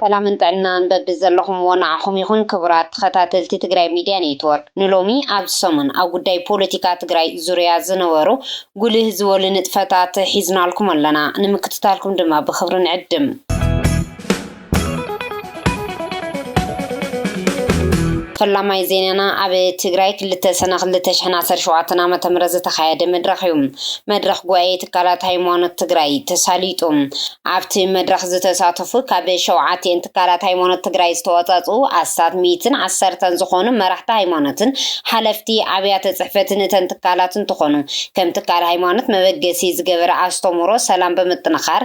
ሰላምን ጥዕናን በብዘለኹምዎ ንዓኹም ይኹን ክቡራት ተኸታተልቲ ትግራይ ሚድያ ኔትወርክ። ንሎሚ ኣብዚ ሰሙን ኣብ ጉዳይ ፖለቲካ ትግራይ ዙርያ ዝነበሩ ጉልህ ዝበሉ ንጥፈታት ሒዝናልኩም ኣለና። ንምክትታልኩም ድማ ብኽብሪ ንዕድም። ፈላማይ ዜናና ኣብ ትግራይ ክልተ ሰነ ክልተ ሽሕን ዓሰርተ ሸውዓተን ዓመተ ምህረት ዝተኻየደ መድረኽ እዩ። መድረኽ ጉባኤ ትካላት ሃይማኖት ትግራይ ተሳሊጡ። ኣብቲ መድረኽ ዝተሳተፉ ካብ ሸውዓቲኤን ትካላት ሃይማኖት ትግራይ ዝተወፃፅኡ ኣስታት ሚእትን ዓሰርተን ዝኾኑ መራሕቲ ሃይማኖትን ሓለፍቲ ኣብያተ ፅሕፈትን እተን ትካላት እንትኾኑ ከም ትካል ሃይማኖት መበገሲ ዝገበረ ኣስተምህሮ ሰላም ብምጥንኻር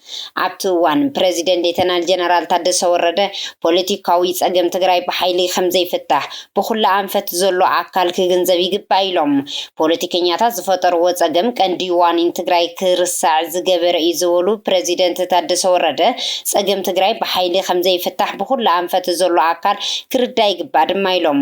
ኣብቲ እዋን ፕረዚደንት ሌተናል ጀነራል ታደሰ ወረደ ፖለቲካዊ ፀገም ትግራይ ብሓይሊ ከምዘይፍታሕ ብኹሉ ኣንፈት ዘሎ ኣካል ክግንዘብ ይግባእ ኢሎም። ፖለቲከኛታት ዝፈጠርዎ ፀገም ቀንዲ ዋኒን ትግራይ ክርሳዕ ዝገበረ እዩ ዝበሉ ፕረዚደንት ታደሰ ወረደ ፀገም ትግራይ ብሓይሊ ከምዘይፍታሕ ብኹሉ ኣንፈት ዘሎ ኣካል ክርዳእ ይግባእ ድማ ኢሎም።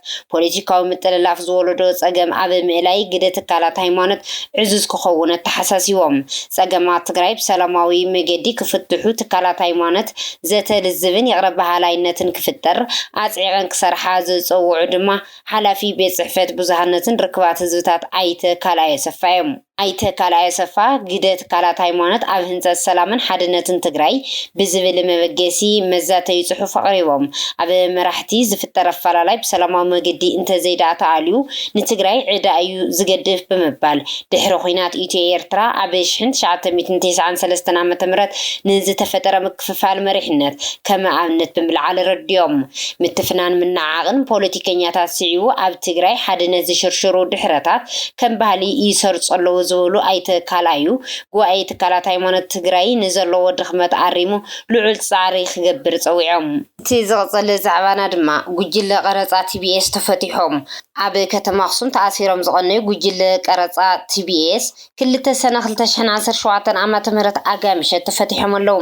ፖለቲካዊ ምጥልላፍ ዝወለዶ ፀገም ኣብ ምእላይ ግደ ትካላት ሃይማኖት ዕዙዝ ክኸውን ኣተሓሳሲቦም። ፀገማት ትግራይ ብሰላማዊ መገዲ ክፍትሑ ትካላት ሃይማኖት ዘተ ልዝብን ይቕረ በሃላይነትን ክፍጠር ኣፅዒቐን ክሰርሓ ዝፀውዑ ድማ ሓላፊ ቤት ፅሕፈት ብዙሃነትን ርክባት ህዝብታት ኣይተ ካልኣዮሰፋ ዮም። ኣይተ ካልኣይ ኣሰፋ፣ ግደ ትካላት ሃይማኖት ኣብ ህንፀት ሰላምን ሓድነትን ትግራይ ብዝብል መበገሲ መዛተዪ ፅሑፍ ኣቕሪቦም። ኣብ መራሕቲ ዝፍጠር ኣፈላላይ ብሰላማዊ መገዲ እንተዘይድኣ ተኣልዩ ንትግራይ ዕዳ እዩ ዝገድፍ ብምባል፣ ድሕሪ ኹናት ኢትዮ-ኤርትራ ኣብ ሽሕን ትሽዓተ ሚእትን ቴስዓን ሰለስተን ዓ.ም ንዝተፈጠረ ክፍፋል መሪሕነት ከመ ኣብነት ብምልዓል ኣረዲኦም። ምትፍናን ምንዕዓቕን ፖለቲከኛታት ስዒቡ ኣብ ትግራይ ሓድነት ዝሽርሽሩ ድሕረታት ከም ባህሊ ይሰርፁ ኣለዉ ዝበሉ ኣይተ ካልኣዩ፣ ጉባኤ ትካላት ሃይማኖት ትግራይ ንዘለዎ ድኽመት ኣሪሙ ልዑል ፃዕሪ ክገብር ፀዊዖም። እቲ ዝቕፅል ዛዕባና ድማ ጉጅለ ቀረፃ ቲቢኤስ ተፈቲሖም። ኣብ ከተማ ኣኽሱም ተኣሲሮም ዝቐነዩ ጉጅለ ቀረፃ ቲቢኤስ ክልተ ሰነ 2017 ዓ/ም ኣጋይ ምሸት ተፈቲሖም ኣለው።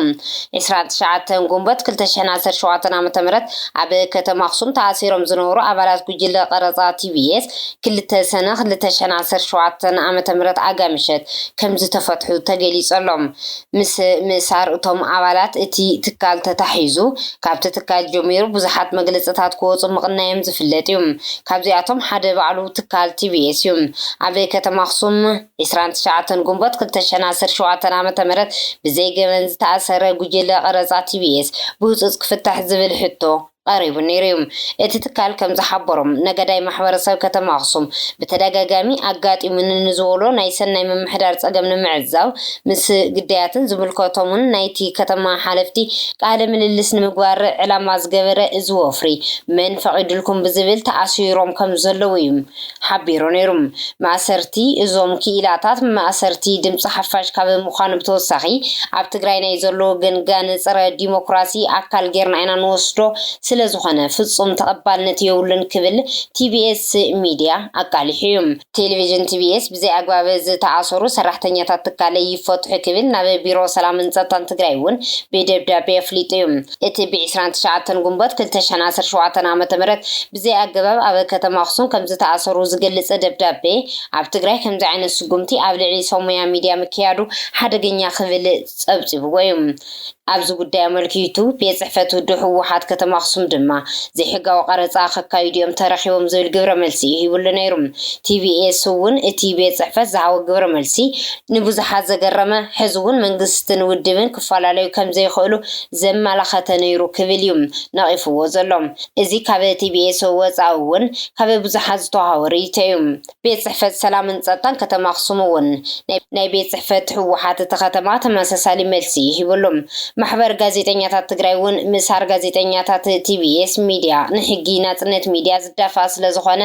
29 ግንቦት 2017 ዓ/ም ኣብ ከተማ ኣክሱም ተኣሲሮም ዝነበሩ ኣባላት ጉጅለ ቀረፃ TBS ክልተ ሰነ 2017 ዓ/ም ኣጋይ ምሸት ከምዝተፈትሑ ተገሊፁ ኣሎ። ምስ ምእሳር እቶም ኣባላት እቲ ትካል ተታሒዙ ካብቲ ትካል ጀሚሩ ብዙሓት መግለፅታት ክወፁ ምቕናዮም ዝፍለጥ ዩ። ካብዚኣቶም ሓደ ባዕሉ ትካል TBS ዩ። ኣብ ከተማ ኣኽሱም ዕስራን ትሽዓተን ግንቦት ክልተ ሽሕን ዓሰርተ ሸውዓተን ዓ.ም ብዘይ ገበን ዝተኣሰረ ጉጅለ ቐረፃ TBS ብህፁፅ ክፍታሕ ዝብል ሕቶ ቐሪቡ ነይሩ ዩ። እቲ ትካል ከም ዝሓበሮ፣ ነገዳይ ማሕበረሰብ ከተማ ኣኽሱም ብተደጋጋሚ ኣጋጢሙኒ ንዝበሎ ናይ ሰናይ ምምሕዳር ፀገም ንምዕዛብ ምስ ግዳያትን ዝምልከቶምን ናይቲ ከተማ ሓለፍቲ ቃለ ምልልስ ንምግባር ዕላማ ዝገበረ እዚ ወፍሪ መን ፈቒዱልኩም ብዝብል ተኣሲሮም ከም ዘለዉ ዩ ሓቢሩ ነይሩ። ማእሰርቲ እዞም ክኢላታት ማእሰርቲ ድምፂ ሓፋሽ ካብ ምዃን ብተወሳኺ ኣብ ትግራይ ናይ ዘለዉ ገንጋን ፀረ ዲሞክራሲ ኣካል ገይርና ኢና ንወስዶ ስለዝኾነ ፍፁም ተቐባልነት የብሉን ክብል ቲቢኤስ ሚዲያ ኣቃሊሑ እዩ። ቴሌቪዥን ቲቢኤስ ብዘይ ኣግባብ ዝተኣሰሩ ሰራሕተኛታት ትካለይ ይፈትሑ ክብል ናብ ቢሮ ሰላምን ፀጥታን ትግራይ እውን ብደብዳቤ ኣፍሊጡ እዩ። እቲ ብ ዕስራን ትሽዓተን ግንቦት ክልተ ሽሕን ዓሰርተ ሸውዓተን ዓመተ ምህረት ብዘይ ኣገባብ ኣብ ከተማ ኣክሱም ከምዝተኣሰሩ ዝገልጽ ደብዳቤ ኣብ ትግራይ ከምዚ ዓይነት ስጉምቲ ኣብ ልዕሊ ሰው ሞያ ሚድያ ምክያዱ ሓደገኛ ክብል ጸብጺብዎ እዩ። ኣብዚ ጉዳይ ኣመልኪቱ ቤት ጽሕፈት ውድብ ህወሓት ከተማ ኣክሱም ድማ ዘይሕጋዊ ቀረጻ ከካይዱ እዮም ተረኺቦም ዝብል ግብረ መልሲ እዩ ሂብሉ ነይሩ። TBS እውን እቲ ቤት ጽሕፈት ዝሃቦ ግብረ መልሲ ንብዙሓት ዘገረመ ሕዚ እውን መንግስትን ውድብን ክፈላለዩ ከምዘይኽእሉ ዘመላኸተ ነይሩ ክብል እዩ ነቒፍዎ ዘሎ። እዚ ካብ TBSO ወጻኢ እውን ካብ ብዙሓት ዝተወሃቦ ርእይቶ እዩ። ቤት ጽሕፈት ሰላምን ጸጥታን ከተማ ኣኽሱም እውን ናይ ቤት ጽሕፈት ህወሓት እቲ ከተማ ተመሳሳሊ መልሲ እዩ ሂብሉ። ማሕበር ጋዜጠኛታት ትግራይ እውን ምሳር ጋዜጠኛታት TBS ሚድያ ንሕጊ ናጽነት ሚድያ ዝዳፋእ ስለዝኾነ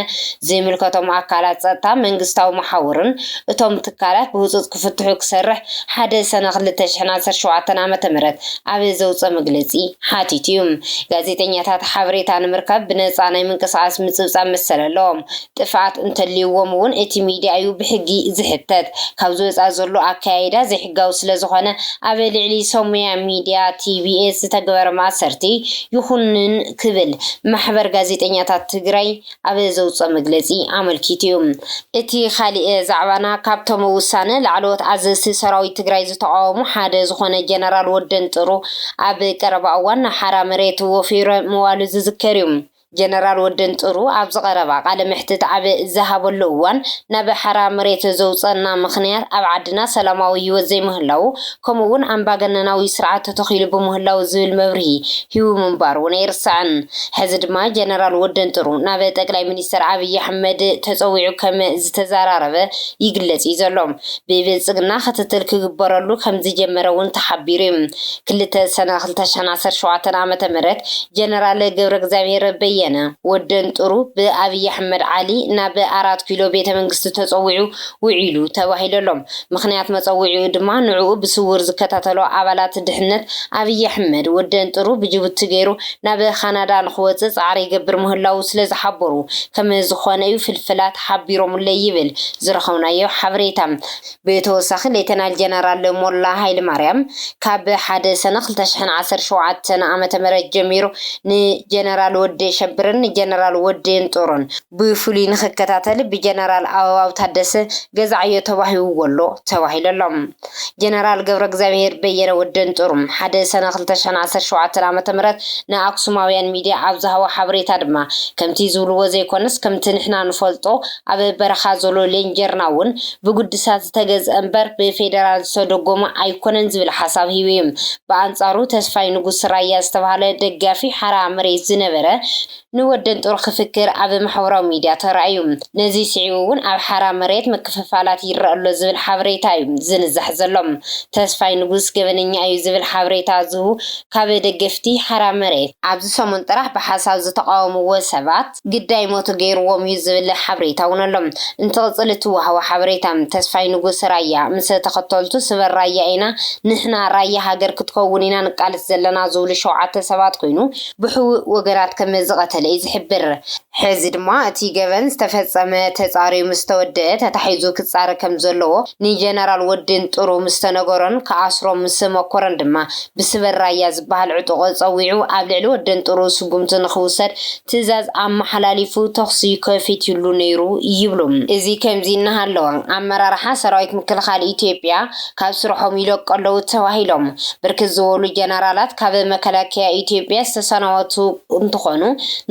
ዘይምልከቶም ኣካላት ፀጥታ፣ መንግስታዊ መሓውርን እቶም ትካላት ብህፁፅ ክፍትሑ ክሰርሕ ሓደ ሰነ ክልተ ሽሕን ዓሰርተ ሸውዓተን ዓመተ ምህረት ኣብ ዘውፀ መግለፂ ሓቲቱ ዩ። ጋዜጠኛታት ሓበሬታ ንምርካብ ብነፃ ናይ ምንቅስቓስ ምፅብፃብ መሰል ኣለዎም። ጥፍኣት እንተልዩዎም ውን እቲ ሚድያ ዩ ብሕጊ ዝሕተት። ካብዚ ወፃኢ ዘሎ ኣከያይዳ ዘይሕጋዊ ስለዝኾነ ኣብ ልዕሊ ሰሙያ ሚድያ፣ TBS፣ ዝተገበረ ማእሰርቲ ይኹንን ክብል ማሕበር ጋዜጠኛታት ትግራይ ኣብ ዘውፅኦ መግለፂ ኣመልኪቱ ዩ። እቲ ካሊእ ዛዕባና ካብቶም ውሳነ ላዕለዎት ኣዘዝቲ ሰራዊት ትግራይ ዝተቓወሙ ሓደ ዝኾነ ጀነራል ወደንጥሩ ኣብ ቀረባ እዋን ናብ ሓራ መሬት ወፊሩ ምዋሉ ዝዝከር ዩ። ጀነራል ወዲ እንጥሩ ኣብዚ ቀረባ ቃለ መሕትት ኣብ ዝሃበሉ እዋን ናብ ሓራ መሬት ዘውፀእና ምኽንያት ኣብ ዓድና ሰላማዊ ህይወት ዘይምህላዉ ከምኡ እውን ኣምባገነናዊ ስርዓት ተተኺሉ ብምህላዉ ዝብል መብርሂ ሂቡ ምንባሩ እውን ኣይርሳዕን። ሕዚ ድማ ጀነራል ወዲ እንጥሩ ናብ ጠቅላይ ሚኒስትር ኣብይ ኣሕመድ ተፀዊዑ ከም ዝተዘራረበ ይግለፅ እዩ ዘሎ። ብብልፅግና ክትትል ክግበረሉ ከም ዝጀመረ እውን ተሓቢሩ እዩ። ክልተ ሰነ ክልተ ሽሕን ዓሰርተ ሸውዓተን ዓመተ ምህረት ጀነራል ገብረእግዚኣብሄር በየነ፣ ወደንጥሩ፣ ብኣብይ ኣሕመድ ዓሊ ናብ ኣራት ኪሎ ቤተ መንግስቲ ተጸዊዑ ውዒሉ ተባሂሉ ኣሎ። ምኽንያት መጸውዒኡ ድማ ንዕኡ ብስውር ዝከታተሎ ኣባላት ድሕነት ኣብይ ኣሕመድ ወደንጥሩ ብጅቡቲ ገይሩ ናብ ካናዳ ንኽወጽእ ጻዕሪ ይገብር ምህላዉ ስለዝሓበሩ ከምዝኾነ'ዩ ፍልፍላት ሓቢሮምለይ ይብል ዝረኸብናዮ ሓበሬታ። ብተወሳኺ ሌተናል ጀነራል ሞላ ሃይለማርያም ካብ ሓደ ሰነ ክልተ ሽሕን ዓሰርተ ሸውዓተን ዓመተ ምህረት ጀሚሩ ንጀነራል ወዲ የሸብርን ንጀነራል ወዲ የንጦሮን ብፍሉይ ንኽከታተል ብጀነራል ኣበባው ታደሰ ገዛዓዮ ተዋሂቡዎ'ሎ ተባሂሉ'ሎ። ጀነራል ገብረእግዚኣብሄር በየነ ወዲ የንጦሩ ሓደ ሰነ ክልተ ሽሕን ዓሰርተ ሸውዓተን ዓመተ ምህረት ንኣክሱማውያን ሚድያ ኣብ ዝሃቦ ሓበሬታ ድማ ከምቲ ዝብሉዎ ዘይኮነስ ከምቲ ንሕና ንፈልጦ ኣብ በረኻ ዘሎ ሌንጀርና እውን ብጉድሳት ዝተገዝኣ እምበር ብፌደራል ዝተደጎመ ኣይኮነን ዝብል ሓሳብ ሂቡ እዩ። ብኣንፃሩ ተስፋይ ንጉስ ራያ ዝተብሃለ ደጋፊ ሓራ መሬት ዝነበረ ንወደንጦር ክፍክር ኣብ ማሕበራዊ ሚድያ ተራእዩ። ነዚ ስዒቡ እውን ኣብ ሓራ መሬት ምክፍፋላት ይረኣ ኣሎ ዝብል ሓበሬታ እዩ ዝንዛሕ ዘሎ። ተስፋይ ንጉስ ገበነኛ እዩ ዝብል ሓበሬታ ዝህቡ ካብ ደገፍቲ ሓራ መሬት፣ ኣብዚ ሰሙን ጥራሕ ብሓሳብ ዝተቓወምዎ ሰባት፣ ግዳይ ሞቱ ገይርዎም እዩ ዝብል ሓበሬታ እውን ኣሎ። እንትቕፅል እቲ ወሃቢ ሓበሬታ ተስፋይ ንጉስ ራያ ምስ ተኸተልቱ ስበር ራያ ኢና ንሕና ራያ ሃገር ክትከውን ኢና ንቃለስ ዘለና ዝብሉ ሸውዓተ ሰባት ኮይኑ ብሕውእ ወገናት ከም ዝቐተለ እዩ ዝሕብር። ሕዚ ድማ እቲ ገበን ዝተፈፀመ ተፃርዩ ምስ ተወደኣ ተታሒዙ ክፃረ ከም ዘለዎ ንጀነራል ወዲ ንጥሩ ምስ ተነገሮን ክኣስሮም ምስ መኮረን ድማ ብስበር ራያ ዝበሃል ዕጡቕ ፀዊዑ ኣብ ልዕሊ ወዲ ንጥሩ ስጉምቲ ንክውሰድ ትእዛዝ ኣመሓላሊፉ ተኹሲ ከፊትሉ ነይሩ ይብሉ። እዚ ከምዚ እናሃለወ፣ ኣመራርሓ ሰራዊት ምክልኻል ኢትዮጵያ ካብ ስርሖም ይለቁ ኣለዉ ተባሂሎም ብርክት ዝበሉ ጀነራላት ካብ መከላከያ ኢትዮጵያ ዝተሰናበቱ እንትኾኑ፣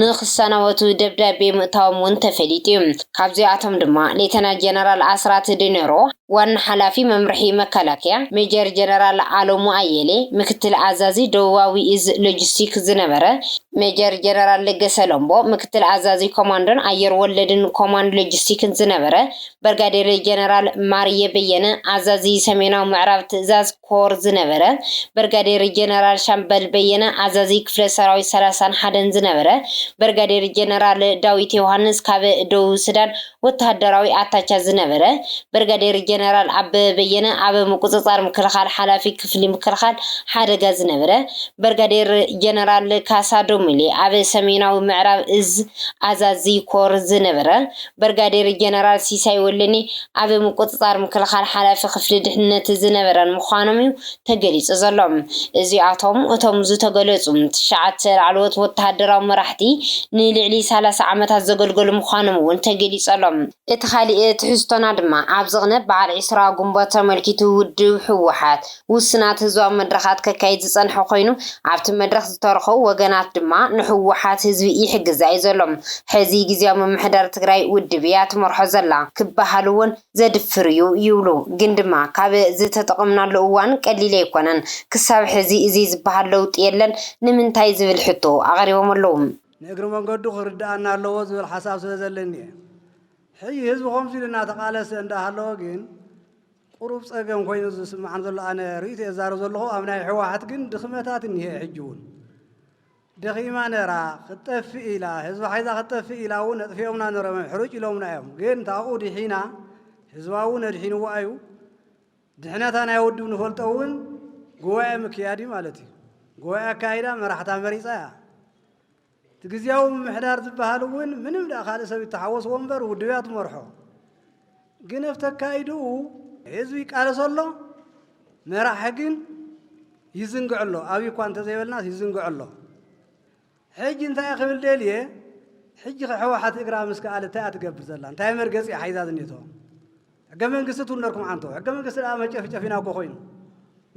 ንክሰናበቱ ደብዳቤ ምእታዎም እውን ተፈሊጡ እዩ። ካብዚኣቶም ድማ ሌተናል ጀነራል ኣስራት ዲነሮ፣ ዋና ሓላፊ መምርሒ መከላከያ ሜጀር ጀነራል ኣለሙ ኣየሌ፣ ምክትል ኣዛዚ ደቡባዊ እዝ ሎጂስቲክ ዝነበረ ሜጀር ጀነራል ለገሰ ለምቦ፣ ምክትል ኣዛዚ ኮማንዶን ኣየር ወለድን ኮማንድ ሎጂስቲክን ዝነበረ በርጋዴር ጀነራል ማርየ በየነ፣ ኣዛዚ ሰሜናዊ ምዕራብ ትእዛዝ ኮር ዝነበረ በርጋዴር ጀነራል ሻምበል በየነ፣ ኣዛዚ ክፍለ ሰራዊት ሰላሳን ሓደን ዝነበረ በርጋዴር ጀነራል ዳዊት ዮውሃንስ፣ ካብ ደቡብ ሱዳን ወተሃደራዊ ኣታቻ ዝነበረ በርጋዴር ጀነራል ኣበበ በየነ፣ ኣብ ምቁጽጻር ምክልኻል ሓላፊ ክፍሊ ምክልኻል ሓደጋ ዝነበረ በርጋዴር ጀነራል ካሳ ዶሚሌ፣ ኣብ ሰሜናዊ ምዕራብ እዝ ኣዛዚ ኮር ዝነበረ ብርጋዴር ጀነራል ሲሳይ ወልደኒ ኣብ ምቁጽጻር ምክልኻል ሓላፊ ክፍሊ ድሕንነት ዝነበረን ምዃኖም'ዩ ተገሊጹ ዘሎ። እዚኣቶም እቶም ዝተገለጹ ትሽዓተ ላዕለዎት ወተሃደራዊ መራሕቲ ንልዕሊ ሰላሳ ዓመታት ዘገልገሉ ምዃኖም'ውን ተገሊጹ ኣሎ። እቲ ካልእ ትሕዝቶና ድማ ኣብ ዝቕነ በዓል ዕስራ ግንቦት ተመልኪቱ ውድብ ህወሓት፣ ውሱናት ህዝባዊ መድረኻት ከካይድ ዝጸንሐ ኮይኑ፣ ኣብቲ መድረኽ ዝተረኸቡ ወገናት ድማ ንህወሓት ህዝቢ ይሕግዛ እዩ ዘሎ፣ ሕዚ ግዝያዊ ምምሕዳር ትግራይ ውድብ እያ ትመርሖ ዘላ ክበሃል እውን ዘድፍር እዩ ይብሉ። ግን ድማ ካብ ዝተጠቐምናሉ እዋን ቀሊል ኣይኮነን፣ ክሳብ ሕዚ እዚ ዝበሃል ለውጢ የለን፣ ንምንታይ ዝብል ሕቶ ኣቕሪቦም ኣለዉ። ንእግሪ መንገዱ ክርደኣና ኣለዎ ዝብል ሓሳብ ስለዘለኒ እየ። ሕዚ ህዝቢ ከምዚ ኢሉ እናተቓለሰ እንዳሃለወ ግን፣ ቁሩብ ጸገም ኮይኑ ዝስማዓኒ ዘሎ ኣነ ርእይቶይ እዛረብ ዘለኹ ኣብ ናይ ሕዋሓት ግን ድኽመታት እኒሀ ሕጂ ውን ደኺማ ነራ ክትጠፍእ ኢላ ህዝባ ሓይዛ ክትጠፍእ ኢላ ውን ኣጥፊኦምና ነሮም ሕሩጭ ኢሎምና እዮም ግን ታብኡ ድሒና ህዝባ ውን ኣድሒንዎ ኣዩ ድሕነታ ናይ ውድብ ንፈልጦ ውን ጉባኤ ምክያድ እዩ ማለት እዩ ጉባኤ ኣካይዳ መራሕታ መሪጻ እያ እቲ ግዝያዊ ምምሕዳር ዝበሃል እውን ምንም ደኣ ካልእ ሰብ ይተሓወስዎ እምበር ውድብ እያ ትመርሖ። ግን ኣብቲ ኣካይድኡ ህዝቢ ይቃለሶ ኣሎ፣ መራሒ ግን ይዝንግዕ ኣሎ ኣብይ እኳ እንተዘይበልናስ ይዝንግዕ ኣሎ ሕጂ እንታይ ክብል ደልየ ሕጂ ከሕወሓት እግራ ምስ ከኣለ እንታይ እያ ትገብር ዘላ እንታይ መርገፂ እያ ሓይዛ ዝኔቶ ሕገ መንግስቲ ትውነርኩም ዓንቶ ሕገ መንግስቲ ደኣ መጨፍጨፊና እኮ ኮይኑ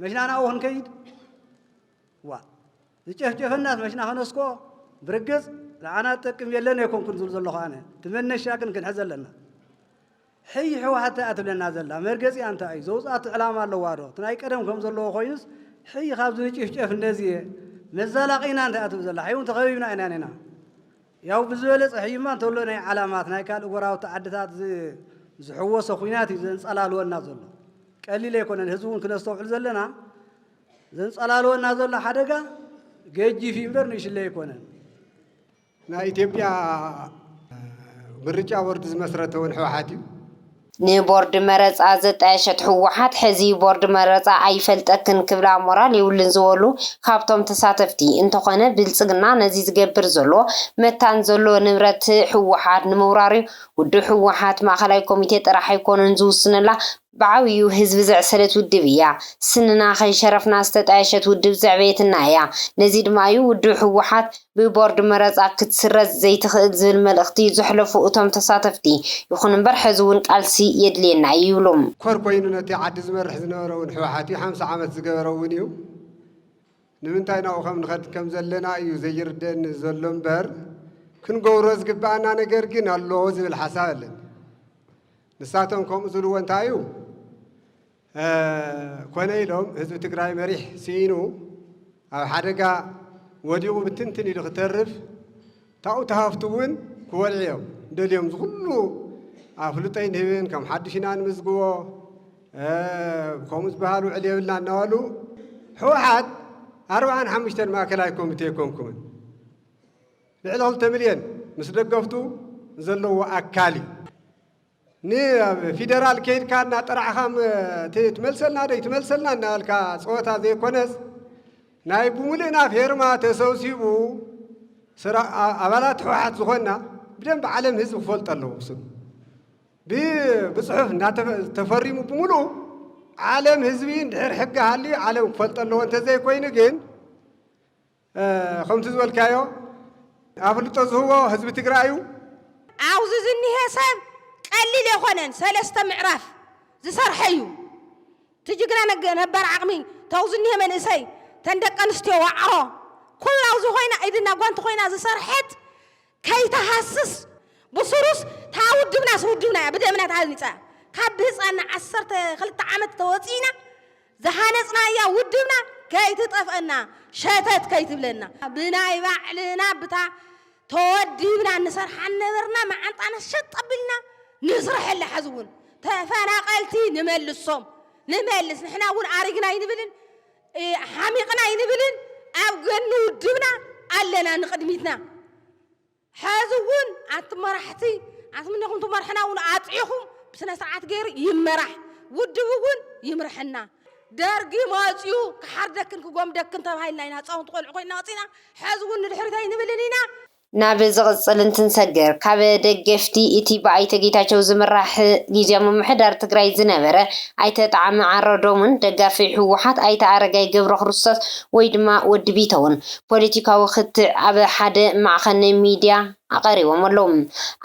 መሽና ናብኡ ክንከይድ ዋ ዝጨፍጨፈና ዝመሽና ከነስክኦ ብርግጽ ንዓና ዝጠቅም የለን ኣይኮንኩን ዝብል ዘለኹ ኣነ እቲ መነሻ ግን ክንሕዘ ኣለና ሕይ ሕወሓት እንታይ እያ ትብለና ዘላ መርገፂኣ እንታይ እዩ ዘውፅኣቱ ዕላማ ኣለዋ ዶ እቲ ናይ ቀደም ከም ዘለዎ ኮይኑስ ሕይ ካብዚ ንጭፍጨፍ እንደዚ እየ መዛላቂና እንታይ እያ ትብል ዘላ ሕይ እውን ተኸቢብና ኢና ኔና ያው ብዝበለፀ ሕይማ እንተሎ ናይ ዓላማት ናይ ካልእ ጎራውቲ ዓድታት ዝሕወሰ ኩናት እዩ ዘንፀላልወና ዘሎ ቀሊል ኣይኮነን ህዝቢ እውን ክነስተውዕል ዘለና ዘንጸላልወና ዘሎ ሓደጋ ገጂፍ እዩ እምበር ንእሽለይ ኣይኮነን። ናይ ኢትዮጵያ ምርጫ ቦርድ ዝመስረተ እውን ህወሓት እዩ። ንቦርድ መረፃ ዘጣየሸት ህወሓት ሕዚ ቦርድ መረፃ ኣይፈልጠክን ክብላ ሞራል የብሉን ዝበሉ ካብቶም ተሳተፍቲ እንተኾነ ብልፅግና ነዚ ዝገብር ዘሎ መታን ዘሎ ንብረት ህወሓት ንምውራር እዩ ውድብ ህወሓት ማእኸላይ ኮሚቴ ጥራሕ ኣይኮኑን ዝውስነላ ብዓብይኡ ህዝቢ ዘዕሰለት ውድብ እያ። ስንና ከይሸረፍና ዝተጣየሸት ውድብ ዘዕበየትና እያ። ነዚ ድማ እዩ ውድብ ህወሓት ብቦርድ መረፃ ክትስረዝ ዘይትኽእል ዝብል መልእኽቲ ዘሕለፉ እቶም ተሳተፍቲ። ይኹን እምበር ሕዚ እውን ቃልሲ የድልየና እዩ ይብሉ። ኮር ኮይኑ ነቲ ዓዲ ዝመርሕ ዝነበረ እውን ህወሓት እዩ። ሓምሳ ዓመት ዝገበረ እውን እዩ። ንምንታይ ናብኡ ከም ንኸድ ከም ዘለና እዩ ዘይርደኣኒ ዘሎ እምበር ክንገብሮ ዝግበኣና ነገር ግን ኣሎ ዝብል ሓሳብ ኣለኒ። ንሳቶም ከምኡ ዝብልዎ እንታይ እዩ ኮነ ኢሎም ህዝቢ ትግራይ መሪሕ ስኢኑ ኣብ ሓደጋ ወዲቑ ብትንትን ኢሉ ክተርፍ ታኡ ተሃፍቱ እውን ክወልዑ እዮም ደልዮም ዝኩሉ ኣፍልጦይ ንህብን ከም ሓዱሽ ኢና ንምዝግቦ ከምኡ ዝበሃል ውዕል የብልና እናበሉ ሕወሓት ኣርባዓን ሓሙሽተን ማእከላይ ኮሚቴ ኣይኮንኩምን ልዕሊ ክልተ ሚልዮን ምስ ደገፍቱ ዘለዎ ኣካል እዩ። ንኣብ ፊደራል ከይድካ እናጠራዕኻ ትመልሰልና ዶ ኣይትመልሰልና እናበልካ ፀወታ ዘይኮነስ ናይ ብምሉእና ፌርማ ተሰብሲቡ ኣባላት ህወሓት ዝኾንና ብደንብ ዓለም ህዝቢ ክፈልጦ ኣለዎ ክስብ ብፅሑፍ ተፈሪሙ ብምሉኡ ዓለም ህዝቢ እንድሕር ሕጊ ሃልዩ ዓለም ክፈልጦ ኣለዎ እንተዘይኮይኑ ግን ከምቲ ዝበልካዮ ኣፍልጦ ዝህቦ ህዝቢ ትግራይ እዩ። ኣብዙ ዝኒሀ ሰብ ቀሊል የኮነን ሰለስተ ምዕራፍ ዝሰርሐ እዩ ትጅግና ነባር ዓቅሚ ተው ዝኒሀ መንእሰይ ተን ደቀንስትዮ ዋዕሮ ኩሉ ኣብዙ ኮይና ኢድና ጓንቲ ኮይና ዝሰርሐት ከይትሃስስ ብሱሩስ እታ ውድብናስ ውድብና እያ ብደምና ተሃኒጻ እያ ካብ ብህጻንና ዓሰርተ ክልተ ዓመት ተወጺእና ዝሃነጽናያ ውድብና ከይትጠፍኣና ሸተት ከይትብለና ብናይ ባዕልና ብታ ተወዲብና ንሰርሓ ነበርና መዓንጣና ሸጥ ኣቢልና ንስረሐላ ሐዚ እውን ተፈናቐልቲ ንመልሶም ንመልስ ንሕና እውን ኣሪግና ኣይንብልን ሓሚቕና ኣይንብልን ኣብ ገኒ ውድብና ኣለና ንቕድሚትና ሐዚ ውን ኣቲ መራሕቲ ኣትምነኹም ትመርሕና ውን ኣጥዒኹም ብስነስርዓት ገይሩ ይመራሕ ውድብ ውን ይምርሐና ደርጊ መፅዩ ክሓርደክን ክጎምደክን ተባሂልና ኢና ህፃውንቲ ቆልዑ ኮይና ወፂና ሐዚ ውን ንድሕሪት ኣይንብልን ኢና ናብ ዝቕፅል እንትንሰግር ካብ ደገፍቲ እቲ ብኣይተ ጌታቸው ዝምራሕ ጊዚያዊ ምምሕዳር ትግራይ ዝነበረ ኣይተ ጠዓመ ዓረዶምን ደጋፊ ህወሓት ኣይተ ኣረጋይ ገብረክርስቶስ ወይ ድማ ወዲ ቢተውን ፖለቲካዊ ክትዕ ኣብ ሓደ ማዕኸን ሚዲያ ኣቐሪቦም ኣለው።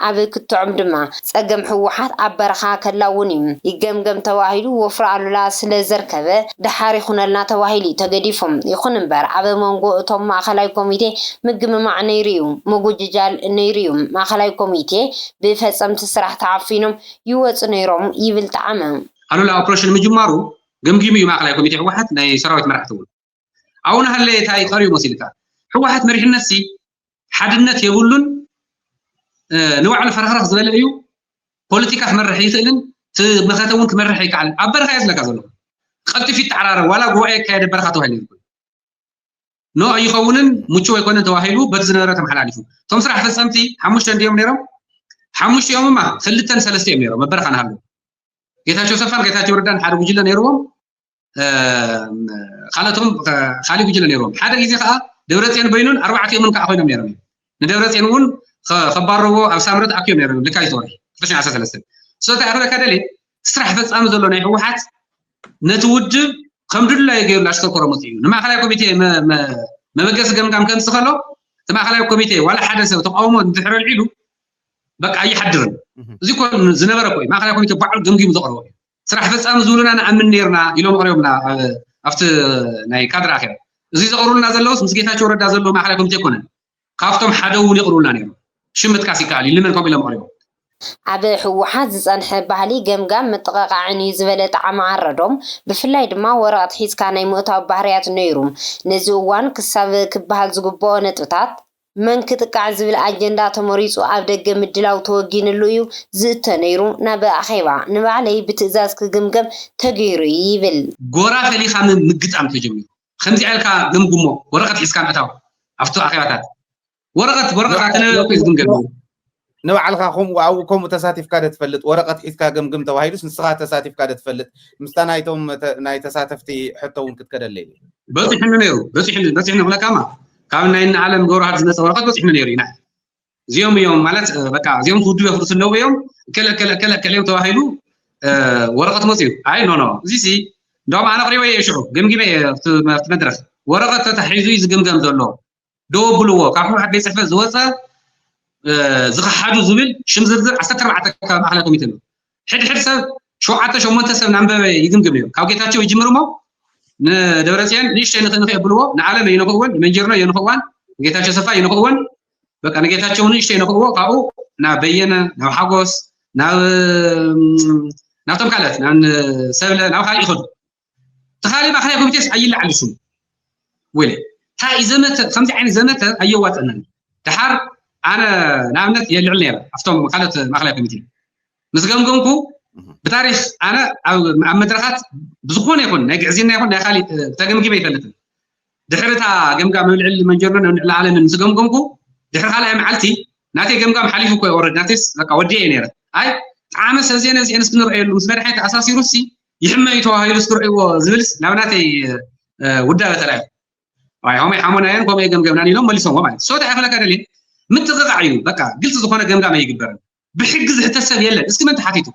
ኣብ ክትዖም ድማ ፀገም ህወሓት ኣብ በረኻ ከላውን እዩ ይገምገም ተባሂሉ ወፍሪ ኣሉላ ስለዘርከበ ደሓር ይኹነልና ተባሂሉ'ዩ ተገዲፉ። ይኹን እምበር ኣብ መንጎ እቶም ማእኸላይ ኮሚቴ ምግምማዕ ነይሩ'ዩ፣ ምጉጅጃል ነይሩ'ዩ፣ ማእኸላይ ኮሚቴ ብፈፀምቲ ስራሕ ተዓፊኖም ይወፁ ነይሮም ይብል ጠዓመ። ኣሉላ ኦፕሬሽን ምጅማሩ ገምጊሙ እዩ ማእኸላይ ኮሚቴ ህወሓት፣ ናይ ሰራዊት መራሕቲ እውን። ኣብኡ እናሃለየ ታይ ቀርዩ መሲሉካ? ህወሓት መሪሕነትሲ ሓድነት የብሉን ንባዕሉ ፈረኽረኽ ዝበለ እዩ ፖለቲካ ክመርሕ ይኽእልን እቲ መኸተ እውን ክመርሕ ኣይከኣልን ኣብ በረኻ እየ ዝለካ ዘለኹ ቀልጢፍ ይተዓራረብ ዋላ ጉባኤ ይካየደ በረኻ ተባሂሉ ይኮ ኖ ኣይኸውንን ምቹው ኣይኮነን ተባሂሉ በቲ ዝነበረ ተመሓላሊፉ እቶም ስራሕ ፈፀምቲ ሓሙሽተ እንዲዮም ነይሮም ሓሙሽቲኦም እማ ክልተን ሰለስተ እዮም ነይሮም ኣብ በረኻ ንሃለዉ ጌታቸው ሰፋን ጌታቸው ረዳን ሓደ ጉጅለ ነይርዎም ካልኦቶም ካልእ ጉጅለ ነይሮም ሓደ ግዜ ከዓ ደብረፅዮን በይኑን ኣርባዕቲኦምን ከዓ ኮይኖም ነይሮም ንደብረፅዮን እውን ከባረዎ ኣብ ሳምረ ተኣኪቦም ነይሮም ልካይ ዝወርሒ ክልተ ሽሕ ዓሰርተ ሰለስተ ስለታ ክብለካ ደልየ ስራሕ ፈፃሚ ዘሎ ናይ ህወሓት ነቲ ውድብ ከም ድላዩ ገይሩ ላሽከርከሮ መፅኡ እዩ ንማእኸላይ ኮሚቴ መበገሲ ገምጋም ከምፅ ከሎ እቲ ማእኸላይ ኮሚቴ ዋላ ሓደ ሰብ ተቃውሞ እንድሕር ኣልዒሉ በቃ ኣይሓድርን እዚ ኮ ዝነበረ ኮዩ ማእኸላይ ኮሚቴ ባዕሉ ገምጊሙ ዘቕርቦ እዩ ስራሕ ፈፃሚ ዝብሉና ንኣምን ነይርና ኢሎም ኣቕሪቦምልና ኣብ ኣብቲ ናይ ካድረ ኣኼባ። እዙይ ዘቕርቡልና ዘለውስ ምስ ጌታቸው ረዳ ዘለዎ ማእኸላይ ኮሚቴ ኣይኮነን። ካፍቶም ሓደ እውን የቕርቡልና ነይሮም። ሽም ምጥቃስ ይከኣል እዩ፣ ንመን ከምኡ ኢሎም ኣቕሪቦም። ኣብ ህወሓት ዝፀንሐ ባህሊ ገምጋም ምጥቕቓዕን እዩ ዝበለ ጠዓመ ኣረዶም፣ ብፍላይ ድማ ወረቕት ሒዝካ ናይ ምእታው ባህርያት ነይሩ። ነዚ እዋን ክሳብ ክበሃል ዝግበኦ ነጥብታት። መን ክጥቃዕ ዝብል ኣጀንዳ ተመሪጹ ኣብ ደገ ምድላው ተወጊንሉ እዩ ዝእቶ ነይሩ፣ ናብ ኣኼባ። ንባዕለይ ብትእዛዝ ክግምገም ተገይሩ'ዩ ይብል። ጎራ ፈሊኻ ምግጣም ተጀሚሩ። ብኸምዚኣ ኢልካ ገምግሞ፣ ወረቐት ሒዝካ ምእታው ኣብቲ ኣኼባታት። ወረቐት፣ ወረቐት፣ ኣተነባቢኹ እዩ ዝግምገም ነይሩ። ንባዕልኻ ከምኡ ኣብኡ ከምኡ ተሳቲፍካ ዶ ትፈልጥ ወረቐት ሒዝካ ገምግም ተባሂሉስ ንስኻ ተሳቲፍካ ዶ ትፈልጥ ምስታ ናይቶም ናይ ተሳተፍቲ ሕቶ እውን ክትከደለይ እየ በፂሑኒ ነይሩ በፂሑኒ በፂሑኒ ክብለካማ ካብ ናይ ንዓለም ገብረዋህድ ዝመፀ ወረቐት በፂሑኒ ነይሩ ኢና እዚኦም እዮም ማለት በቃ እዚኦም ክውድቡ የፍርሱ ኣለዉ እዮም ከለ ከለ ከለ ከለ እዮም ተባሂሉ ወረቐት መፅኡ ኣይ ኖ ኖ እዚ ሲ እንደውም ኣነ ኣቕሪበ እየ ሽዑ ገምጊመ እየ ኣብቲ መድረኽ ወረቐት ተታሒዙ እዩ ዝግምገም ዘሎ ደው ኣብልዎ ካብ ሕወሓት ቤት ፅሕፈት ዝወፀ ዝኸሓዱ ዝብል ሽም ዝርዝር ዓሰርተ ኣርባዕተ ካብ ማእኸላይ ኮሚቴ ኣሎ ሕድሕድ ሰብ ሸውዓተ ሸሞንተ ሰብ ናንበበ ይግምግም እዮም ካብ ጌታቸው ይጅምር እሞ ንደብረፅዮን ንእሽተይ ንኽ ንኽ የብልዎ ንዓለም የንኽእወን ንመንጀርኖ የንኽእዋን ንጌታቸው ሰፋ የንኽእወን በቃ ንጌታቸው ንእሽተይ የንኽእዎ ካብኡ ናብ በየነ ናብ ሓጎስ ናብ ናብቶም ካልኦት ናብ ሰብለ ናብ ካልእ ይኸዱ ተኻሊ ማእከላይ ኮሚቴስ ኣይለዓል ስሙ ወለ እንታይ እዩ ዘመተ ከምዚ ዓይነት ዘመተ ኣየዋፅእናን ድሓር ኣነ ንኣብነት የልዕል ነይረ ኣብቶም ካልኦት ማእከላይ ኮሚቴ ምስ ገምገምኩ ብታሪክ ኣነ ኣብ መድረኻት ብዝኾነ ይኹን ናይ ግዕዝና ይኹን ናይ ካሊእ ተገምጊመ ይፈልጥን ድሕሪ እታ ገምጋም ኣብ ልዕሊ መንጀርኖን ኣብ ልዕሊ ኣለምን ምስ ገምገምኩ ድሕሪ ካልኣይ መዓልቲ ናተይ ገምጋም ሓሊፉ እኮ ወረድ ናተይስ በቃ ወዲአ እየ ነይረ ኣይ ጣዕመ ሰብዜነ እዚአንስ ክንረአየሉ ምስ መድሓኒት ኣሳሲሩሲ ይሕመ እዩ ተባሂሉ ስትርዕዎ ዝብልስ ናብ ናተይ ውዳበ ተራእዩ ዋይ ሆመይ ሓሞናዮን ከምኡ ገምገምናን ኢሎም መሊሶምዎ ማለት ሶታ ይኽለካ ደልየ ምጥቕቓዕ እዩ በቃ ግልፂ ዝኾነ ገምጋም ኣይግበርን ብሕጊ ዝሕተት ሰብ የለን እስኪ መን ተሓቲቱ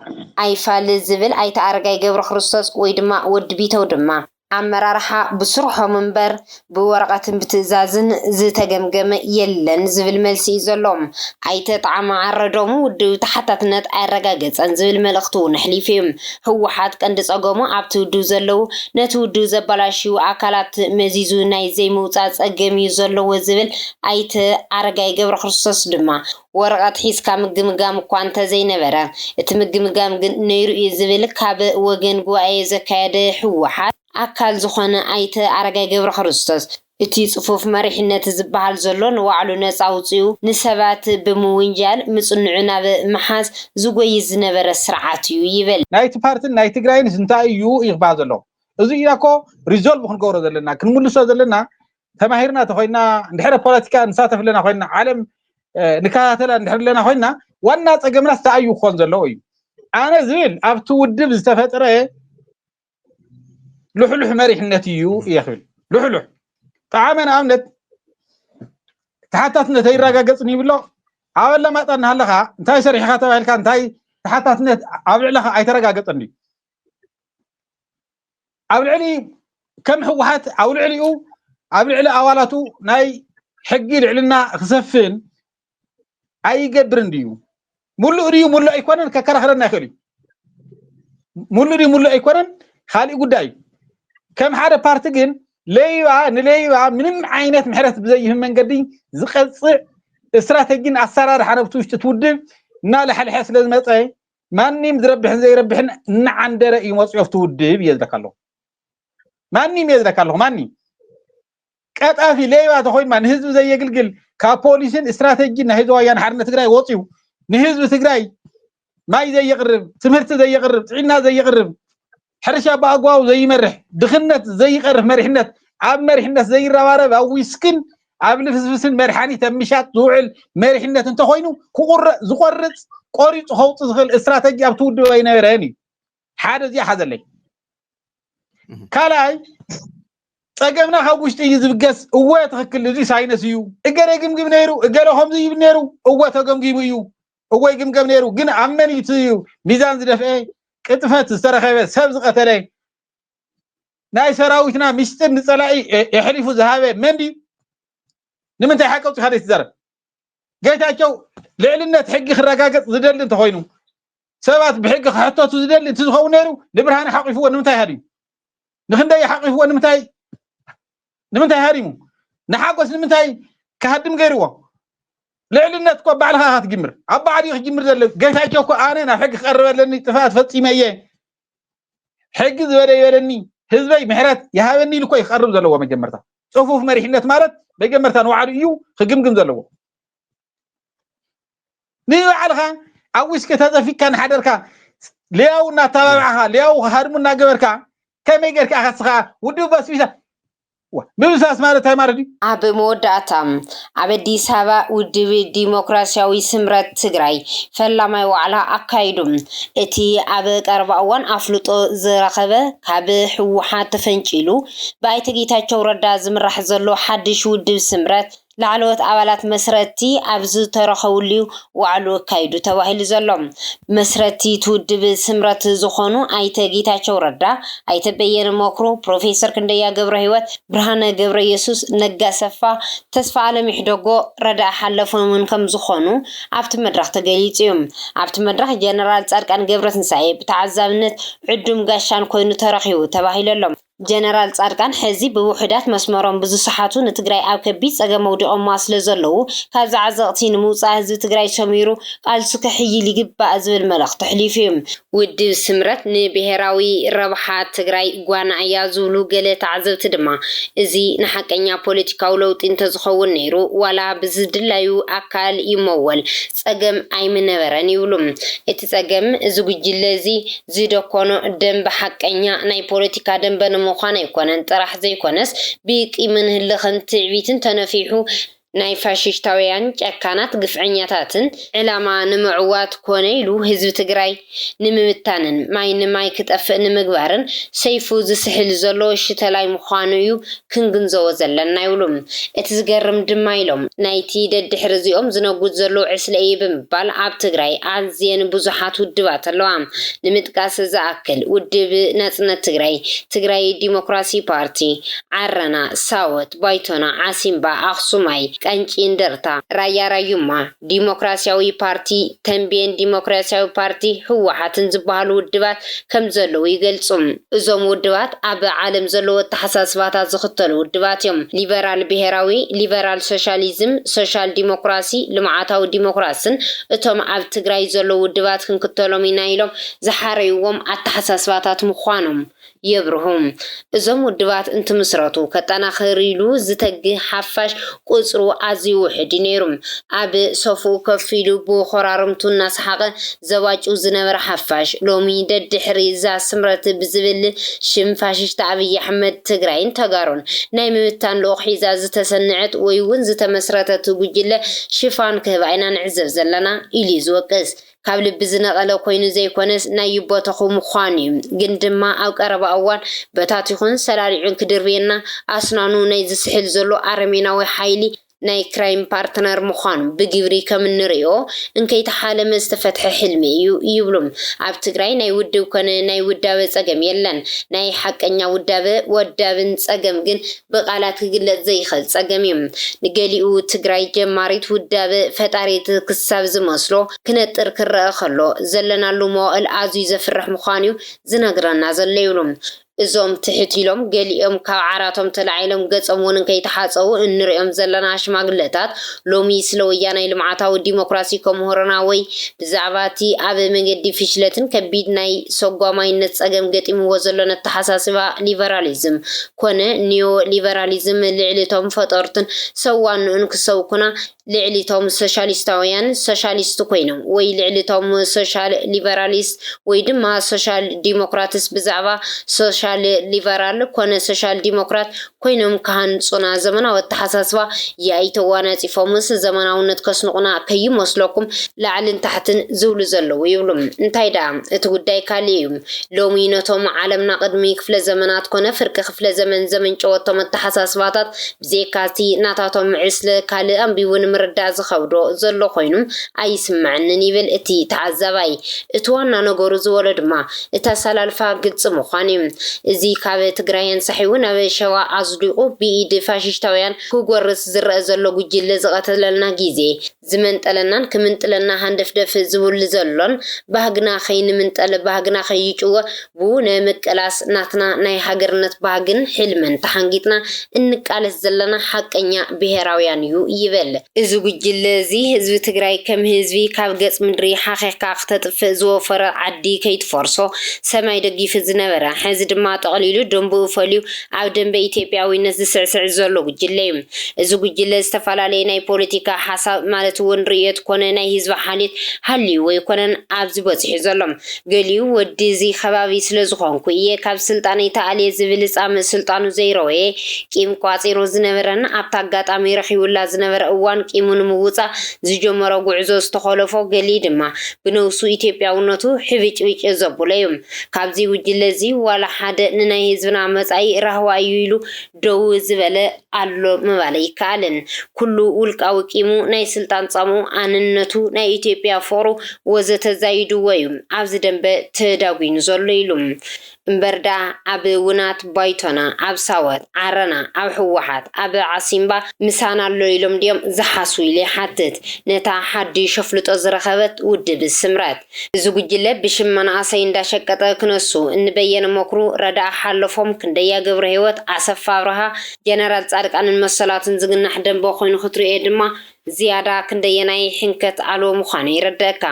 ኣይፋል ዝብል ኣይተ ኣረጋይ ገብረክርስቶስ ወይ ድማ ወዲ ቢተው ድማ። ኣመራርሓ ብስርሖም እምበር ብወረቐትን ብትእዛዝን ዝተገምገመ የለን ዝብል መልሲ እዩ ዘሎ። ኣይተ ጠዓመ ዓረዶም ውድብ ተሓታትነት ኣየረጋገፀን ዝብል መልእኽቲ እውን ኣሕሊፉ እዩ። ህወሓት ቀንዲ ፀገሙ ኣብቲ ውድብ ዘለዉ ነቲ ውድብ ዘበላሽዉ ኣካላት መዚዙ ናይ ዘይምውፃእ ፀገም እዩ ዘለዎ ዝብል ኣይተ ኣረጋይ ገብረክርስቶስ ድማ ወረቐት ሒዝካ ምግምጋም እኳ እንተዘይነበረ እቲ ምግምጋም ግን ነይሩ እዩ ዝብል ካብ ወገን ጉባኤ ዘካየደ ህወሓት ኣካል ዝኾነ ኣይተ ኣረጋይ ገብረክርስቶስ፣ እቲ ፅፉፍ መሪሕነት ዝበሃል ዘሎ ንባዕሉ ነፃ ኣውፂኡ ንሰባት ብምውንጃል ምፅንዑ ናብ ምሓዝ ዝጎይይ ዝነበረ ስርዓት እዩ ይብል። ናይቲ ፓርትን ናይ ትግራይንስ እንታይ እዩ እዩ ክበሃል ዘለዎ እዙይ ኢና እኮ ሪዞልቭ ክንገብሮ ዘለና ክንምልሶ ዘለና ተማሂርና ተኾይና እንድሕረ ፖለቲካ ንሳተፍ ኣለና ኮይና ዓለም ንከታተላ እንድሕር ኣለና ኮይና ዋና ፀገምናስ እንታይ እዩ ክኾን ዘለዎ እዩ ኣነ ዝብል ኣብቲ ውድብ ዝተፈጥረ ልሕሉሕ መሪሕነት እዩ እየ ክብል ልሕሉሕ ጠዓመ ንኣብነት ተሓታትነት ኣይረጋገፅን ይብሎ ኣብ ኣላማጣ እናሃለኻ እንታይ ሰሪሕኻ ተባሂልካ እንታይ ተሓታትነት ኣብ ልዕለኻ ኣይተረጋገፀን እዩ ኣብ ልዕሊ ከም ህወሓት ኣብ ልዕሊኡ ኣብ ልዕሊ ኣባላቱ ናይ ሕጊ ልዕልና ክሰፍን ኣይገብርን ድዩ ሙሉእ ድዩ ሙሉእ ኣይኮነን ከከራኽረና ይኽእል እዩ ሙሉእ ድዩ ሙሉእ ኣይኮነን ካልእ ጉዳይ እዩ ከም ሓደ ፓርቲ ግን ለይባ ንለይባ ምንም ዓይነት ምሕረት ብዘይህብ መንገዲ ዝቀፅዕ ስትራቴጂን ኣሰራርሓ ነብቲ ውሽጢ ትውድብ እናለሕልሐ ስለ ዝመፀ ማንም ዝረብሕን ዘይረብሕን እናዓንደረ እዩ መፅኦ ኣብቲ ውድብ እየ ዝለካ ኣለኹ ማንም እየ ዝለካ ኣለኹ ማንም ቀጣፊ ሌባ ተኾይማ ንህዝቢ ዘየግልግል ካብ ፖሊስን ስትራቴጂን ናይ ህዝቢ ወያነ ሓርነት ትግራይ ወፅዩ ንህዝቢ ትግራይ ማይ ዘየቕርብ፣ ትምህርቲ ዘየቕርብ፣ ጥዕና ዘየቕርብ፣ ሕርሻ ብኣግባቡ ዘይመርሕ፣ ድኽነት ዘይቐርፍ መሪሕነት ኣብ መሪሕነት ዘይረባረብ ኣብ ዊስክን ኣብ ልፍስፍስን መድሓኒት ኣብ ምሻጥ ዝውዕል መሪሕነት እንተኾይኑ ዝቆርፅ ቆሪፁ ከውፅ ዝኽእል ስትራተጂ ኣብቲ ውድብ ኣይነበረን እዩ ሓደ እዚኣ ሓዘለይ ካልኣይ ፀገምና ካብ ውሽጢ እዩ ዝብገስ እወ ትክክል እዚ ሳይነስ እዩ እገለ ግምግም ነይሩ እገለ ከምዚ ይብል ነይሩ እወ ተገምጊሙ እዩ እወ ይግምገም ነይሩ ግን ኣብ መን እዩ እቲ ሚዛን ዝደፍአ ቅጥፈት ዝተረኸበ ሰብ ዝቐተለ ናይ ሰራዊትና ምስጢር ንፀላኢ የሕሊፉ ዝሃበ መን ድዩ ንምንታይ ሓቂ ኣውፂኻ ዘይትዛረብ ጌታቸው ልዕልነት ሕጊ ክረጋገፅ ዝደሊ እንተኮይኑ ሰባት ብሕጊ ክሕተቱ ዝደሊ እንትዝኸውን ነይሩ ንብርሃነ ሓቂፍዎ ንምንታይ ሃዲሙ ንክንደይ ሓቂፍዎ ንምንታይ ንምንታይ ሃዲሙ ንሓጎስ ንምንታይ ክሃድም ገይርዎ ልዕልነት እኮ ባዕልኻ ኢኻ ትጅምር ኣብ ባዕሉ ክጅምር ዘሎ ጌታቸው እኮ ኣነ ናብ ሕጊ ክቀርብ ኣለኒ ጥፍኣት ፈፂመ እየ ሕጊ ዝበለ ይበለኒ ህዝበይ ምሕረት ይሃበኒ ኢሉ እኮ እዩ ክቀርብ ዘለዎ መጀመርታ ፅፉፍ መሪሕነት ማለት መጀመርታ ንባዕሉ እዩ ክግምግም ዘለዎ ንባዕልኻ ኣብ ዊስኪ ተዘፊቅካ እናሓደርካ ልያው እናተባባዕኻ ልያው ሃድሙ እናገበርካ ከመይ ጌርካ ኢኻ ስኻ ውድብ በስቢሳ ምብስባስ ማለት እንታይ ማለት እዩ? ኣብ መወዳእታ ኣብ ኣዲስ ኣበባ ውድብ ዲሞክራስያዊ ስምረት ትግራይ ፈላማይ ዋዕላ ኣካይዱ። እቲ ኣብ ቀረባ እዋን ኣፍልጦ ዝረኸበ ካብ ህወሓት ተፈንጪሉ ብኣይተ ጌታቸው ረዳ ዝምራሕ ዘሎ ሓድሽ ውድብ ስምረት ላዕለዎት ኣባላት መስረቲ ኣብ ዝተረኸብሉ'ዩ ዋዕልኡ ኣካይዱ ተባሂሉ ዘሎ። መስረቲ'ቲ ውድብ ስምረት ዝኾኑ ኣይተ ጌታቸው ረዳ፣ ኣይተ በየነ መክሩ፣ ፕሮፌሰር ክንደያ ገብረህይወት፣ ብርሃነ ገብረየሱስ፣ ነጋ ኣሰፋ፣ ተስፋኣለም ኢሕደጎ፣ ረዳኢ ሓለፎምን ከምዝኾኑ ኣብቲ መድረኽ ተገሊፁ'ዩ። ኣብቲ መድረኽ ጀነራል ፃድቃን ገብረትንሳኤ ብተዓዛብነት ዕዱም ጋሻን ኮይኑ ተረኺቡ ተባሂሉ'ሎ። ጀነራል ፃድቃን ሐዚ ብውሑዳት መስመሮም ብዝሰሓቱ ንትግራይ ኣብ ከቢድ ፀገም ኣውዲቖማ ስለዘለዉ ካብዚ ዓዘቕቲ ንምውፃእ ህዝቢ ትግራይ ሰሚሩ ቓልሱ ከሕይል ይግባእ ዝብል መልእኽቲ ኣሕሊፉ ዩ። ውድብ ስምረት ንብሄራዊ ረብሓ ትግራይ ጓና እያ ዝብሉ ገለ ተዓዘብቲ ድማ እዚ ንሓቀኛ ፖለቲካዊ ለውጢ እንተዝኸውን ነይሩ ዋላ ብዝድላዩ ኣካል ይመወል ጸገም ኣይምነበረን ይብሉ። እቲ ጸገም እዚ ጉጅለ እዚ ዝደኮኖ ደምበ ሓቀኛ ናይ ፖለቲካ ደምበ ንምዃን ኣይኮነን ጥራሕ ዘይኮነስ ብቂምን ህልኽን ትዕቢትን ተነፊሑ ናይ ፋሽሽታውያን ጨካናት ግፍዐኛታትን ዕላማ ንምዕዋት ኮነ ኢሉ ህዝቢ ትግራይ ንምብታንን ማይ ንማይ ክጠፍእ ንምግባርን ሰይፉ ዝስሕል ዘሎ ሽተላይ ምዃኑ እዩ ክንግንዘቦ ዘለና ይብሉ። እቲ ዝገርም ድማ ኢሎም፣ ናይቲ ደድሕሪ እዚኦም ዝነጉድ ዘሎ ዕስለ እየ ብምባል ኣብ ትግራይ ኣዝየን ብዙሓት ውድባት ኣለዋ። ንምጥቃስ ዝኣክል ውድብ ናጽነት ትግራይ፣ ትግራይ ዲሞክራሲ ፓርቲ፣ ዓረና፣ ሳወት፣ ባይቶና፣ ዓሲምባ፣ ኣኽሱማይ፣ ቃንጪ እንደርታ፣ ራያ ራዩማ፣ ዲሞክራሲያዊ ፓርቲ፣ ተምቤን ዲሞክራሲያዊ ፓርቲ፣ ህወሓትን ዝበሃሉ ውድባት ከም ዘለዉ ይገልጹ። እዞም ውድባት ኣብ ዓለም ዘለዉ ኣተሓሳስባታት ዝኽተሉ ውድባት እዮም። ሊበራል ብሄራዊ፣ ሊበራል ሶሻሊዝም፣ ሶሻል ዲሞክራሲ፣ ልምዓታዊ ዲሞክራስን እቶም ኣብ ትግራይ ዘለዉ ውድባት ክንክተሎም ኢና ኢሎም ዝሓረይዎም ኣተሓሳስባታት ምዃኖም የብርሁ። እዞም ውድባት እንትምስረቱ ከጠናኽር ኢሉ ዝተግ ሓፋሽ ቁጽሩ ኣዝዩ ውሑድ'ዩ ነይሩ። ኣብ ሶፍኡ ኮፍ ኢሉ ብኮራርምቱ እናሰሓቐ ዘባጭው ዝነበረ ሓፋሽ፣ ሎሚ ደድሕሪ'ዛ ስምረት ብዝብል ሽም ፋሽስት ኣብይ ኣሕመድ ትግራይን ተጋሩን ናይ ምብታን ልኡኽ ሒዛ ዝተሰነዐት ወይ'ውን ዝተመስረተት ጉጅለ ሽፋን ክህባ ኢና ንዕዘብ ዘለና ኢሉ'ዩ ዝወቅስ። ካብ ልቢ ዝነቐለ ኮይኑ ዘይኮነስ ናይ ይቦተኹ ምዃኑ ዩ። ግን ድማ ኣብ ቀረባ እዋን በታቲኹን ሰላሊዑን ክድርብየና ኣስናኑ ናይ ዝስሕል ዘሎ ኣረሜናዊ ሓይሊ ናይ ክራይም ፓርትነር ምዃኑ ብግብሪ ከም እንርእዮ እንከይተሓለመ ዝተፈትሐ ሕልሚ እዩ ይብሉ። ኣብ ትግራይ ናይ ውድብ ኮነ ናይ ውዳበ ፀገም የለን። ናይ ሓቀኛ ውዳበ ወዳብን ፀገም ግን ብቃላት ክግለፅ ዘይኸል ፀገም እዩ ንገሊኡ ትግራይ ጀማሪት ውዳበ ፈጣሪት ክሳብ ዝመስሎ ክነጥር ክረኣ ከሎ ዘለናሉ መዋእል ኣዝዩ ዘፍርሕ ምዃኑ እዩ ዝነግረና ዘሎ ይብሉ እዞም ትሕት ኢሎም ገሊኦም ካብ ዓራቶም ተላዒሎም ገፆም እውን ከይተሓፀቡ እንሪኦም ዘለና ሽማግለታት ሎሚ ስለ ወያናይ ልምዓታዊ ዲሞክራሲ ከምህሩና ወይ ብዛዕባ እቲ ኣብ መንገዲ ፍሽለትን ከቢድ ናይ ሰጓማይነት ፀገም ገጢምዎ ዘሎ ነተሓሳስባ ሊበራሊዝም ኮነ ኒዮ ሊበራሊዝም ልዕሊ እቶም ፈጠርቱን ሰብ ዋንኡን ክሰብኩና ልዕሊ እቶም ሶሻሊስታውያን ሶሻሊስት ኮይኖም ወይ ልዕሊ እቶም ሶሻል ሊበራሊስት ወይ ድማ ሶሻል ዲሞክራትስ ብዛዕባ ሶሻል ሊበራል ኮነ ሶሻል ዲሞክራት ኮይኖም ክሃንጹና ዘመናዊ ኣተሓሳስባ ያኢ ተዋናጺፎምስ ዘመናውነት ከስንቑና ከይመስለኩም ላዕልን ታሕትን ዝብሉ ዘለዉ ይብሉ እንታይ ደኣ እቲ ጉዳይ ካልእ እዩ ሎሚ ነቶም ዓለምና ቅድሚ ክፍለ ዘመናት ኮነ ፍርቂ ክፍለ ዘመን ዘመንጨወቶም ኣተሓሳስባታት ብዘይካ'ቲ ናታቶም ዕስለ ካልእ ኣንቢቡ ንምርዳእ ዝኸብዶ ዘሎ ኮይኑ ኣይስመዐንን ይብል እቲ ተዓዛባይ። እቲ ዋና ነገሩ ዝበሎ ድማ እቲ ኣሰላልፋ ግልፂ ምዃኑ'ዩ። እዚ ካብ ትግራይ ኣንሳሒቡ ናብ ሸዋ ኣዝሊቑ ብኢድ ፋሽሽታውያን ክጎርስ ዝረኣ ዘሎ ጉጅለ ዝቐተለልና ግዜ ዝመንጠለናን ክምንጥለና ሃንደፍደፍ ዝቡል ዘሎን ባህግና ከይንምንጠል ባህግና ከይጭወ ብኡ ነምቅላስ ናትና ናይ ሃገርነት ባህግን ሕልምን ተሓንጊጥና እንቃለስ ዘለና ሓቀኛ ብሄራውያን እዩ ይበል። እዚ ጉጅለ እዚ ህዝቢ ትግራይ ከም ህዝቢ ካብ ገፅ ምድሪ ሓኺኽካ ክተጥፍእ ዝወፈሮ ዓዲ ከይትፈርሶ ሰማይ ደጊፉ ዝነበረ ሕዚ ድማ ጠቕሊሉ ደንቡኡ ፈልዩ ኣብ ደምበ ኢትዮጵያዊነት ዝስዕስዕ ዘሎ ጉጅለ እዩ። እዚ ጉጅለ ዝተፈላለየ ናይ ፖለቲካ ሓሳብ ማለት እውን ርእዮት ኮነ ናይ ህዝቢ ሓልዮት ሃልይዎ ኣይኮነን ኣብዚ በፂሑ ዘሎ። ገሊኡ ወዲ እዚ ከባቢ ስለዝኾንኩ እየ ካብ ስልጣነይ ተኣልየ ዝብል ፃምእ ስልጣኑ ዘይረወየ ቂም ቋፂሩ ዝነበረን ኣብቲ ኣጋጣሚ ረኺቡላ ዝነበረ እዋን ቂሙ ንምውፃእ ዝጀመሮ ጉዕዞ ዝተኾለፎ ገሊ ድማ ብነብሱ ኢትዮጵያውነቱ ሕብጭብጭ ዘብሎ እዩ። ካብዚ ጉጅለ እዚ ዋላ ሓደ ንናይ ህዝብና መጻኢ ራህዋ እዩ ኢሉ ደዉ ዝበለ ኣሎ ምባል ኣይከኣልን። ኩሉ ዉልቃዊ ቂሙ፣ ናይ ስልጣን ጻምኡ፣ ኣንነቱ፣ ናይ ኢትዮጵያ ፍቕሩ ወዘተ ዛይድዎ እዩ ኣብዚ ደምበ ተዳጒኑ ዘሎ ኢሉ። እምበር ደኣ ኣብ ዉናት ባይቶና፣ ኣብ ሳወት፣ ዓረና፣ ኣብ ህወሓት፣ ኣብ ዓሲምባ ምሳና ኣሎ ኢሎም ድዮም ዝሓስቡ ኢለ ይሓትት ነታ ሓዲሽ ኣፍልጦ ዝረኸበት ዉድብ ስምረት። እዚ ጉጅለ ብሽም መናእሰይ እንዳሸቀጠ ክነሱ እኒ በየነ መኩሩ፣ ረዳኢ ሓሎፎም፣ ክንደያ ገብረሂወት፣ ኣሰፋ ኣብርሃ፣ ጀነራል ፃድቃንን መሰላቱን ዝግናሕ ደንበ ኮይኑ ክትርእዮ ድማ ዝያዳ ክንደየናይ ሕንከት ኣልቦ ምዃኑ የረደእካ።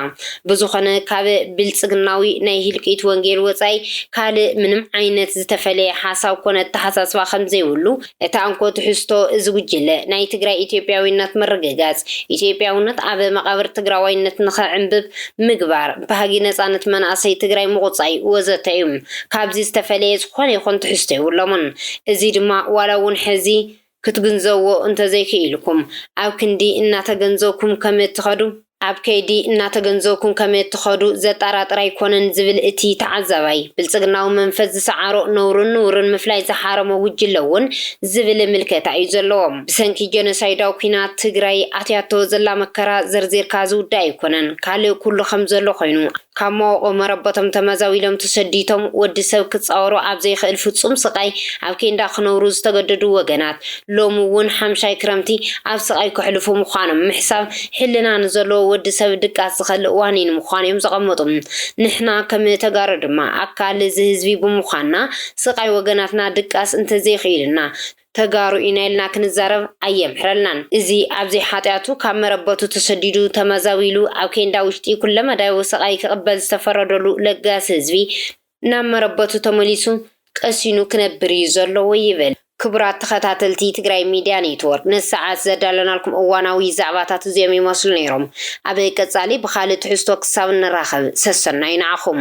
ብዝኾነ ካብ ብልፅግናዊ ናይ ህልቂት ወንጌል ወፃኢ ካልእ ምንም ዓይነት ዝተፈለየ ሓሳብ ኮነ ኣተሓሳስባ ከምዘይብሉ እታ እንኮ ትሕዝቶ እዚ ጉጅለ ናይ ትግራይ ኢትዮጵያዊነት ምርግጋፅ፣ ኢትዮጵያውነት ኣብ መቓብር ትግራዋይነት ንኽዕምብብ ምግባር፣ ባህጊ ነፃነት መናእሰይ ትግራይ ምቑፃይ ወዘተ እዩ። ካብዚ ዝተፈለየ ዝኾነ ይኹን ትሕዝቶ የብሎምን። እዚ ድማ ዋላ እውን ሕዚ ክትግንዘብዎ እንተዘይክኢልኩም ኣብ ክንዲ እናተገንዘብኩም ከምእትኸዱ ኣብ ከይዲ እናተገንዘብኩም ከመ እትኸዱ ዘጣራጥር ኣይኮነን ዝብል እቲ ተዓዛባይ፣ ብልፅግናዊ መንፈስ ዝሰዓሮ ነውርን ንውርን ምፍላይ ዝሓረሞ ጉጅለ እውን ዝብል ምልከታ እዩ ዘለዎ። ብሰንኪ ጀኖሳይዳዊ ኲናት ትግራይ ኣትያቶ ዘላ መከራ ዘርዚርካ ዝውዳእ ኣይኮነን። ካልእ ኩሉ ከም ዘሎ ኮይኑ፣ ካብ መወቕው መረበቶም ተመዛዊሎም ተሰዲቶም ወዲ ሰብ ክፃወሮ ኣብ ዘይኽእል ፍፁም ስቓይ ኣብ ኬንዳ ክነብሩ ዝተገደዱ ወገናት፣ ሎሚ ውን ሓምሻይ ክረምቲ ኣብ ስቓይ ከሕልፉ ምዃኖም ምሕሳብ ሕልና ንዘለዎ ወዲ ሰብ ድቃስ ዝኸልእ ዋኒን ምዃኑ እዮም ዘቐመጡ። ንሕና ከም ተጋሩ ድማ ኣካል እዚ ህዝቢ ብምዃንና ስቓይ ወገናትና ድቃስ እንተዘይክኢሉና ተጋሩ ኢና ኢልና ክንዛረብ ኣየምሕረልናን። እዚ ኣብ ዘይሓጥያቱ ካብ መረበቱ ተሰዲዱ ተመዛቢሉ ኣብ ኬንዳ ውሽጢ ኩለመዳያዊ ስቓይ ክቕበል ዝተፈረደሉ ለጋሲ ህዝቢ፣ ናብ መረበቱ ተመሊሱ ቀሲኑ ክነብር እዩ ዘለዎ ይብል። ክቡራት ተኸታተልቲ ትግራይ ሚድያ ኔትወርክ ነዚ ሰዓት ዘዳለናልኩም እዋናዊ ዛዕባታት እዚኦም ይመስሉ ነይሮም። ኣብ ቀፃሊ ብኻልእ ትሕዝቶ ክሳብ እንራኸብ ሰሰናዩ ንዓኹም።